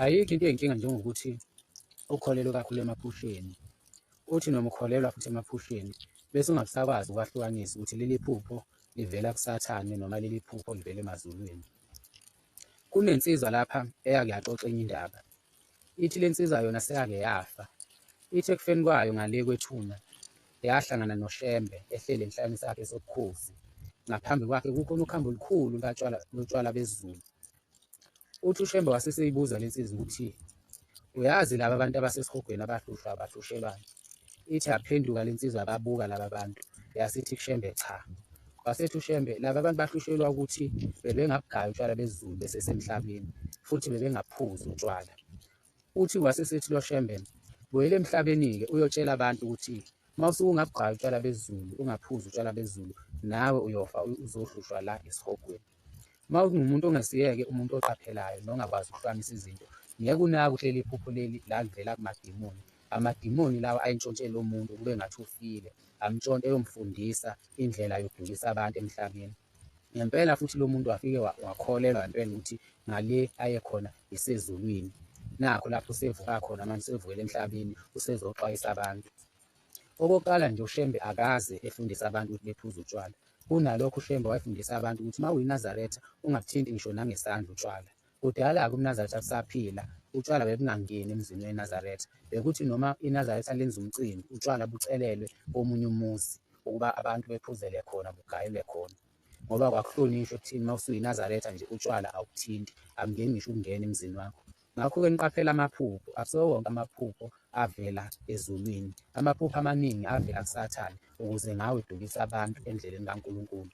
Ayikho into eyinkinga njengokuthi ukholelwe kakhulu emaphusheni. Uthi noma ukholelwa futhi emaphusheni bese ungasakwazi ukwahlukanisa ukuthi leli phupho livela kusathane noma leli phupho livela emazulwini. Kunensizwa lapha eyake yaxoxa enye indaba. Ithi le nsizwa yona seyake yafa. Ithi ekufeni kwayo ngale kwethuna yahlangana noShembe ehleli enhlalweni sakhe sobukhosi. Ngaphambi kwakhe kukhona ukhambo olukhulu lotshwala lotshwala bezulu. Uthi uShembe wase seyibuza le nsizwa ukuthi uyazi laba bantu abasesihogweni abahlushwa abahlushelwani. Ithi yaphenduka le nsizwa yababuka laba bantu yasithi kuShembe cha. Wasethi uShembe laba bantu bahlushelwa ukuthi bebengabugaya utshwala besiZulu besesemhlabeni futhi bebengaphuzi utshwala. Uthi wase esethi loShembe, Buyela emhlabeni-ke uyotshela abantu ukuthi uma usuke ungabugqayi utshwala bezulu, ungaphuzi utshwala bezulu, nawe uyofa uzohlushwa la esihogweni. Uma ungumuntu ongesiyeke umuntu oqaphelayo nongakwazi ukuhlukanisa izinto, ngeke unake uhleli iphupho leli la livela kumadimoni. Amadimoni lawa ayintshontshela umuntu kube ngathi ufile, amntshontshe eyomfundisa indlela yokudukisa abantu emhlabeni. Ngempela futhi lo muntu wafike wakholelwa ngempela ukuthi ngale ayekhona isezulwini nakho lapho usevuka khona manje usevukela emhlabeni usezoxwayisa abantu okokuqala nje ushembe akaze efundisa abantu ukuthi bephuze utshwala kunalokho ushembe wayefundisa abantu ukuthi uma uyinazaretha ungabuthinti ngisho nangesandla utshwala kudala-ke umnazaretha kusaphila utshwala bebungangeni emzini wenazaretha bekuthi noma inazaretha lenza umcimbi utshwala bucelelwe komunye umuzi ukuba abantu bephuzele khona bugayelwe khona ngoba kwakuhlonishwa ekuthini uma usuyiNazaretha nje utshwala awukuthinti, akungeni ngisho ukungena emzini wakho. Ngakho-ke niqaphela amaphupho, akusiwo wonke amaphupho avela ezulwini. Amaphupho amaningi avela kuSathane ukuze ngawe dukise abantu endleleni kaNkulunkulu.